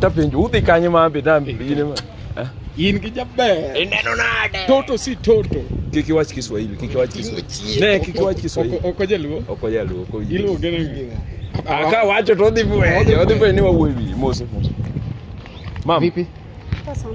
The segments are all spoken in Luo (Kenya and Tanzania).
Tap penjo udhi kanye ma ambe dambe bine ma. Eh? In gi jaber. Ineno nade? Toto si toto. Kik iwach Kiswahili, kik iwach Kiswahili. Ne, kik iwach Kiswahili. Oko jaluo. Oko jaluo. Oko jaluo. Iluo gene ngina. Aka ah, wacho to odhi fwenyo, odhi fwenyo ni wawuoyi mose mose. Mama. Vipi? Poa sana.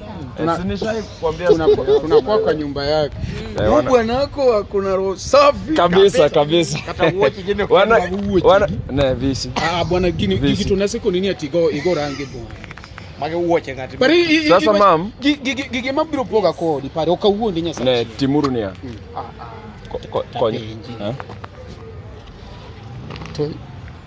tunakuwa kwa nyumba yake eh, bwanako, kuna roho safi kabisa kabisa. Ah, bwana gini kitu nasiko nini atigo igo rangi bo sasa mam gige mabiro poga kodi pare okawuondi nyasaye ne timuru niya hmm. ah, ah. konyo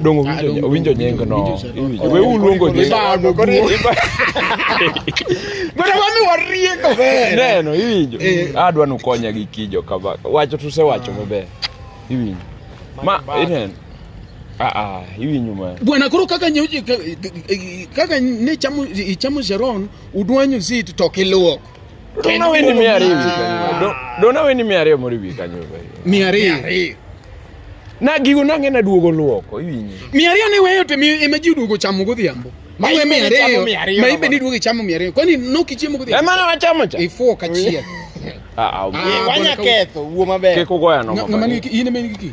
Dong owinjo owinjo nying no. We uluongo nying. Ibago kore. Bora wami warieko ber. Neno iwinjo. Adwa nu konya gi kijo kaba. Wacho tu se wacho maber. Iwinjo. Ma inen. Ah ah, iwinjo ma. Bwana koro kaka nyoji kaka ne chamo chamo Sharon udwanyo zit to kiluok. Dona we ni miari hivi. Dona we ni miari ya mori bika nyoba. Miari. Na gigo nange na duogo luoko iwinyi. Miari ne weyo te emeji duogo chamo godhiambo. Mawe miari. Maibe ni duogo chamo miari. Kwani noki chiemo godhiambo. Emana wachamo cha. Ifuo kachia. Ah, ah. Wanya ketho, wuo maber. Kiko goya no. Ngama ni in emen giki.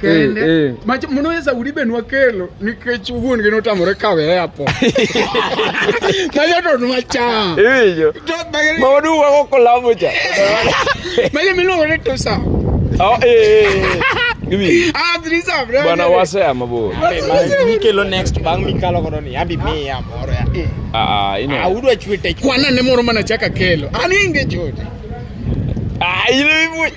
kende eh, eh. macho munoweza ulibenwa kelo nikech wuon gi notamore kawe apo macho to nwacham iwinjo maodu wako kolamo cha macho miluongo ni tusa oh, eh, ah, bwana wase amabor mikelo next bang mikalo kono ni abi miya moro ya ah, ah ino audu ah, achwete kwana ne moro mana chaka kelo ani inge chote ah ino ibu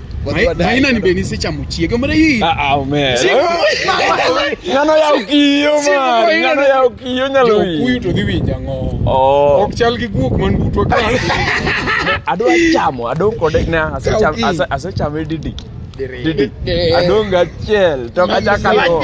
maina ni benisi cha muchieke mara hii ah ah me ngano ya ukiyo ma ngano ya ukiyo nyalo hii kuyu to dhiwi jango oh ok chal gi guok man butwa ka ado chamo ado kode na ase cham ase cham didi didi ado ngachiel to kacha kalo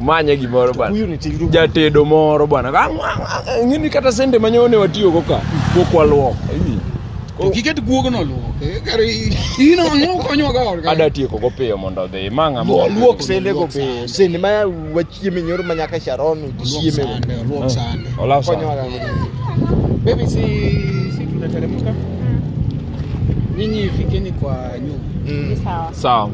manye gimoro bwana. Huyu ni tindu. Jatedo moro bwana. Ah, ah, ah, ng'ini kata sende manyone watiyo go ka. Kokwa luok. To kiket guog no luok. Eh, kare ino ang'o konyo ga orga. Ada tieko go piyo mondo odhi. Manga mo. Luok sende go piyo. Sende ma wachieme nyoro manyaka Sharon chieme. Luok sande. Ola sande. Konyo ga. Baby si si tunateremka. Nyinyi fikeni kwa nyumba. Mm. Sawa. Sawa.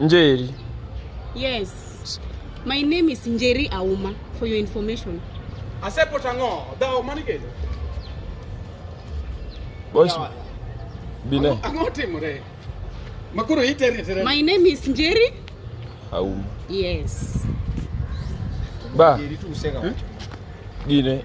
Njeri. Yes. My name is Njeri Auma for your information. Asepo tango, dao manikedo. Boys. Bine. Ango timore. Makuru itere tere. My name is Njeri Auma. Yes. Ba. Njeri tu usega. Bine.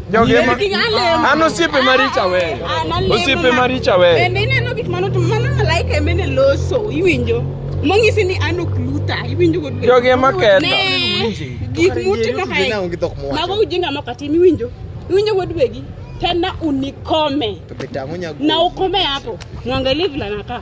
An osiepe maricha weyo. Osiepe maricha weyo. Bende ineno gik mano mano malaika emene loso iwinjo. Mong'isi ni an ok luta iwinjo go dwe. Jogi ema ketho. Gik mutimo kae. Mago ujinga moko atim iwinjo. Iwinjo go dwegi. Tena unikome. Na ukome hapo. Mwangalie vile anakaa.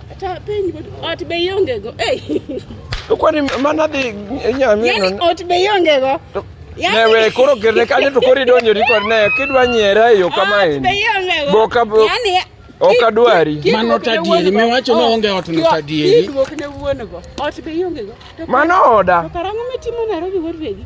Ata penj ot be ionge go. Ei. To kwani mana dhi nyamino. Yaani ot be ionge go. Yaani- Ne we koro kerne kanyo to koro idonjori kod ne kidwa nyiera e yo kama Ot be en. ionge go. Boka bo- Yaani Ok adwari. Kik- kik Mano wuok ne tadieri, wuon go. miwacho ni Oh, onge ot no kik- tadieri. Kik wuok ne wuon go. Ot be ionge go. To- Mano oda. To karang'o mitimo Nairobi wuod wegi?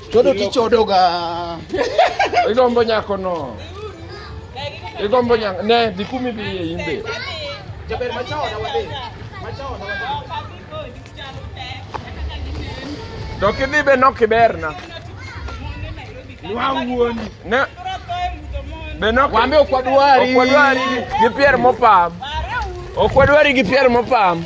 Chodo tichodo ga. Igombo nyako no. Igombo nyako ne dhi kumi bi e imbe. Jaber machao na wadhi. Machao na wadhi. To kidhi be nok iberna. Wawuoni. Ne. Be nok. Wambe okwadwari. Okwadwari gi pier mopam. Okwadwari gi pier mopam.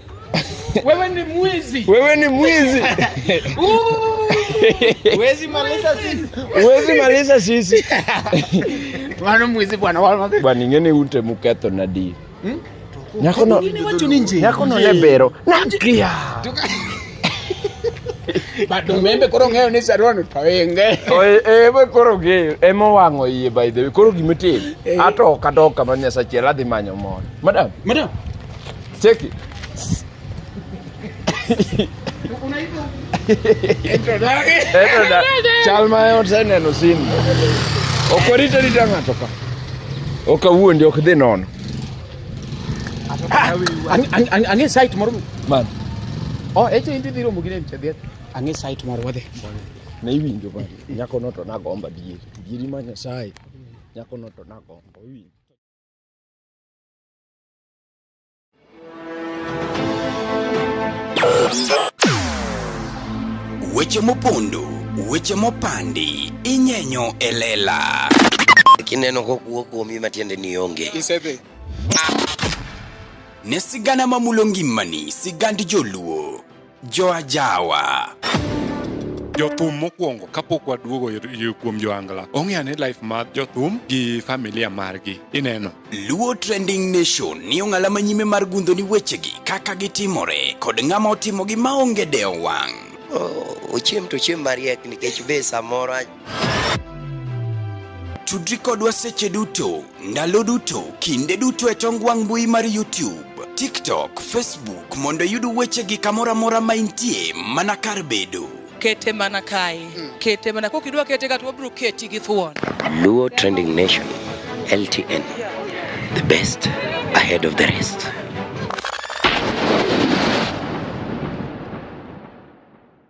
Wewe ni mwizi. Wewe ni mwizi. Uwezi maliza sisi. Uwezi maliza sisi. Wana mwizi bwana wala. Bwana ngene unte mukato na di. Hmm? Nyako no. Nyako no lebero. Nakia. Bado membe koro ng'eyo ni sarwano to inge. Eh, we koro ge ema wang'o iye by the way. Koro gimitimo. Eh. Ato kadoka ma Nyasaye chiel adhi manyo mon. Madam. Madam. Cheki. chalmayoseneno simu ok orita rita ng'ato ka ok awuondi ok dhi nono ah, ang'e site moro man o oh, eche inti dhi romo gi nem chadhiet ang'e site moro wadhi ne iwinjo ba nyako no to nagomba dieri dieri ma nyasaye nyako no to nagomba iwinjo Weche mopondo, weche mopandi, inyenyo e lela. Kineno kokuo kuomi matiende ni onge. Isedhi. Ne sigana mamulo ngimani, sigand joluo. Joajawa. jothum mokwongo kapok waduogo ir- ir- kuom joangla ong'e ane life mar jothum gi familia margi ineno Luo Trending Nation ni ong'ala ma nyime mar gundho ni wechegi kaka gitimore kod ng'ama otimogi maonge dewo wang'. ochiem to ochiem mariek nikech be samoro Tudri kodwa seche duto, ndalo duto, kinde duto e tong wang' mbui mar YouTube, TikTok, Facebook mondo iyud weche gi kamoro amora ma intie mana kar bedo. Kete mana kae, hmm. kete mana kok idwa kete kata wabiro keti gi thuon. Luo Trending Nation, LTN, the best ahead of the rest.